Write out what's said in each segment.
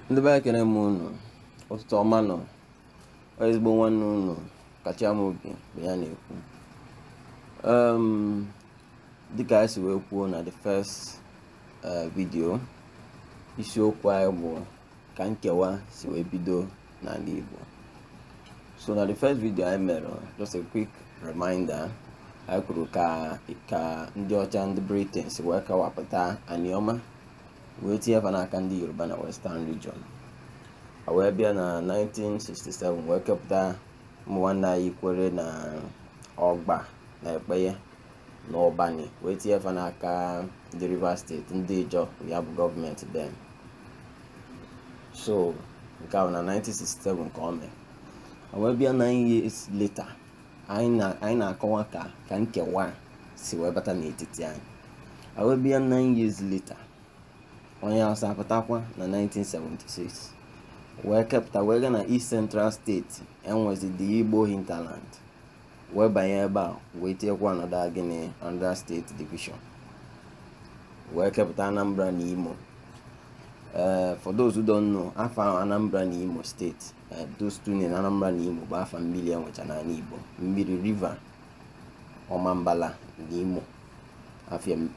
ndị be anyị ekele m unu ụtụtụ ọma nụ ọ ezigbo nwanne unu Kachi Amobi bụ ya na-ekwu dịka anyị si wee kwuo na the first eh, video isiokwu anyị bụ ka nkewa si wee bido n'ala Igbo so na the first video anyị mere just a quick reminder anyị kwuru ka ka ndị ọcha ndị Britain si wee kewapụta aniọma wee tinye fa n'aka ndị Yoruba na Western region a wee bịa na 1967 wee kepụta ụmụ nwanne anyị Ikwerre na ọgba na Ekpeye n'ụbani wee tinye fa n'aka ndị Rivers steeti ndị Ijọ ya bụ gọọmenti then so nke ahụ na 1967 ka o mee wee bịa 9 years later anyị na-akọwa ka ka nkewa si wee bata n'etiti anyị wee bịa na ihe leta onye Hausa apụtakwa na 1976 wee kepụta wee gaa na East Central steeti enwezi the Igbo hinterland wee banye ebe a wee tinyekwa another gịnị another steeti division wee kepụta Anambra na Imo ee eh, for those who don't know afa ahụ Anambra na Imo steeti eh, those two names Anambra na Imo bụ afa mmiri e nwecha n'ala Igbo mmiri river Ọmambala na Imo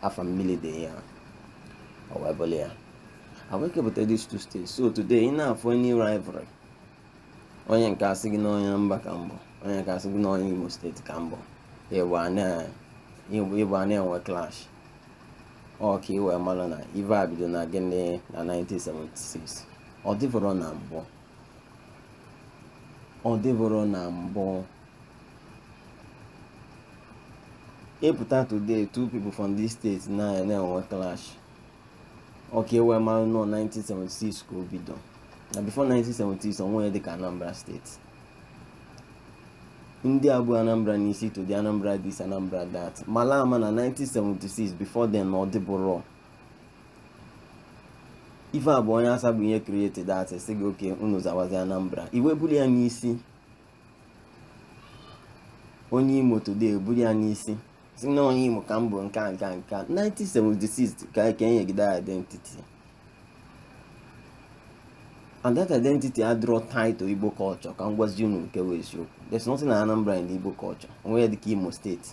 afa mmiri dị ya ọ wee buru ya wee kepụta these two states. So today, in our funny rivalry, onye nke a sị gị na onye Anambra ka m bụ onye nke a sị gị na onye imo steeti ka m bụ ị bịa na-enwe clash ọ ka ị wee mara na ive a bido na gịnị na 1976 ọ dịburọ na mbụ ọ dịburọ na mbụ ị pụta today two people from this state na-enwe clash ọ ka e wee mara na ọ 1976 ka o bido na before 1976 o nwerọ ihe dịka anambra steeti ndị a bu anambra n'isi today anambra this anambra that mala ama na 1976 before then na ọ dịburọ ife a bụ onye Hausa bụ onye created that sị gị okay unu zawazi anambra ị wee buli ya n'isi onye imo today eburu ya n'isi sị na onye imo ka m bụ nke a nke a nke a 1976 ka ka e nye gị the identity and that identity adịrọ tied to igbo culture ka m gwazi unu nke bụ eziokwu there's nothing like anambra in igbo culture o nwerọ ihe dịka imo steeti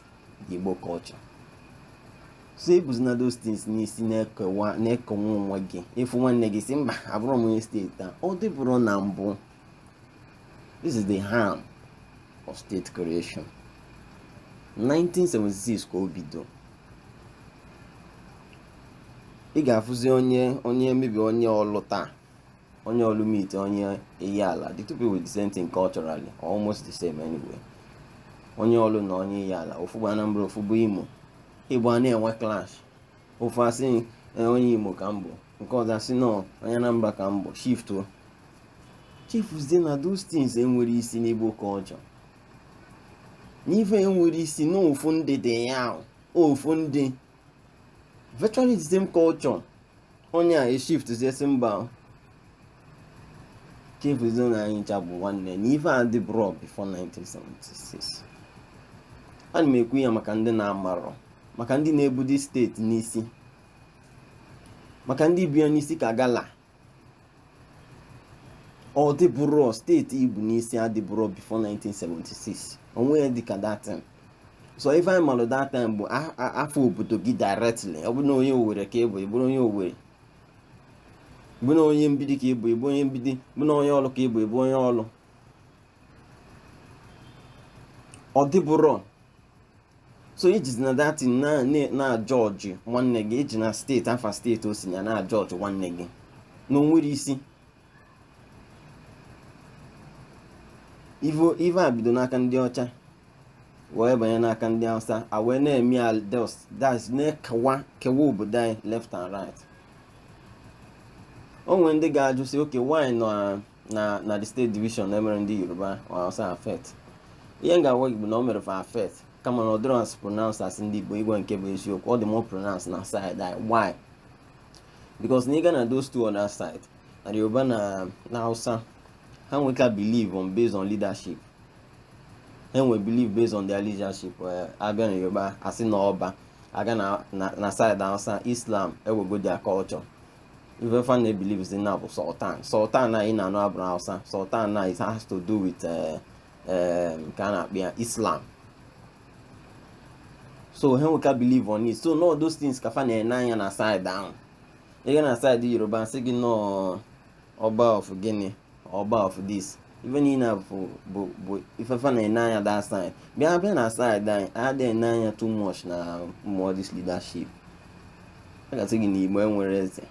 igbo culture so ebuzina those things n'isi na-ekewa na-ekewa onwe gị ị fụ nwanne gị sị mba abụrọ m onye steeti a ọ dịburọ na mbụ this is the harm of state creation 1976 ka o bido ị ga-afụzi onye onye maybe onye ọlụ taa onye ọlụ meet onye ihiala the two people with the same thing culturally almost the same anyway onye ọlụ na onye ihiala ofu bụ anambra ofu bụ imo igbo a na-enwe clash ofu asị eh, onye Imo ka m bụ nke ọzọ asị no onye Anambra ka m bụ shift o chefuzie na those things enwerọ isi n'Igbo culture na ife enwerọ isi n'ofu ndị dị ya ofu ndị virtually the same culture onye a eshiftizie sị mba chefuzie na anyị ncha bụ nwanne na ife a adịburọ before 1976 ana m ekwu ya maka ndị na-amarọ maka ndị na-ebudi steeti n'isi maka ndị bu ya n'isi ka gala ọ dịburọ steeti ibu n'isi adịburọ before 1976 onwe ya dịka that time so ife anyị malụ that time bụ afa obodo gị directly ọ bụrụ na onye owere ka ị bụ ị bụrụ onye owere bụ na onye mgbidi ka ị bụ ị bụ onye mgbidi bụ na onye ọlụ ka ị bụ ị bụ onye ọlụ ọ dịburọ so i jizi na that thing na-ajọji nwanne gị i ji na steeti afa steeti o si na na-ajọji nwanne gị na o nwerọ isi ive a bido n'aka ndị ọcha wee banye n'aka ndị hausa a wee na-eme ya that's na-ekewa kewa obodo anyị left and right o nwere ndị ga-ajụ sị okay why na na na the state division na emerọ ndị yoruba or hausa affect ihe m ga-agwa gị bụ na o mere fa affect kama na ọ dịrọ as pronounced as ndị igbo i kwue nke bụ eziokwu ọ dị more pronounced na side anyị why because na ị ga na those two other side na the yoruba na na hausa ha nweka believe on based on leadership ha nwee believe based on their leadership eh, a bịa na yoruba a sị na ọba a gaa na na na side hausa islam ewego their culture ife fa na-ebilivizi now bụ sultan sultan a ị na-anụ abụrọ hausa sultan na it has to do with eh, eh, nke a na-akpọ ya islam so ha nweka believe on it so na ọ those things ka fa na-ene anya na side ahụ ị ga na side yoruba a sị gị na ọ ọba of gịnị ọba of this ife niile a bụ bụ bụ ife fa na-ene anya that side bịa bịa na side anyị adị ene anya too much na ụmụ this leadership a ga-asị gị na igbo enwerọ eze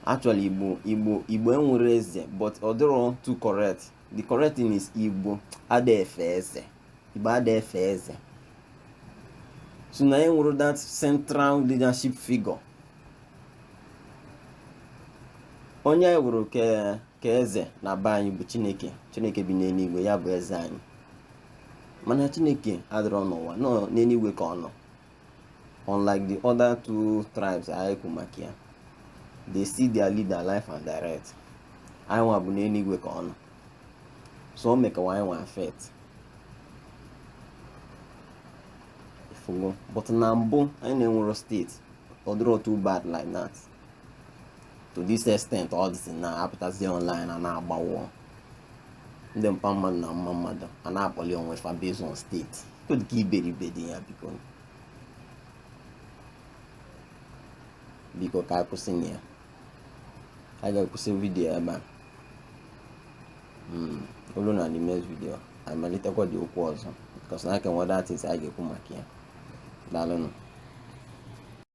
actually igbo igbo igbo enwerọ eze but ọ dịrọ too correct the correct thing is igbo ada efe eze Igbo ada efe eze so na anyị enwero that central leadership figure onye anyị weere ka eze na be anyị bụ chineke chineke bi n'eluigwe ya bụ eze anyị mana chineke adịrọ n'ụwa na ọ n'eluigwe ka ọ nọ unlike the other two tribes anyị kwu maka ya they see their leader live and direct anyị nwa bụ n'eluigwe ka ọ nọ so o mekawa anyị nwa affect ị fụgo but na mbụ anyị na-enwero steeti ọ dịrọ too bad like that to this extent all these things na-apụtazi online a na-agbawo ndị mpa mmadụ na mma mmadụ a na-akpọli onwe fa based on steeti kedu ka iberibe dị ya biko biko ka a kwụsị na ya a ga-akwụsị vidiyo ebe a hmm, o lue na the next video a malitekwa ụdị okwu ọzọ because na a ka nwere other things a ga-ekwu maka ya daalụnụ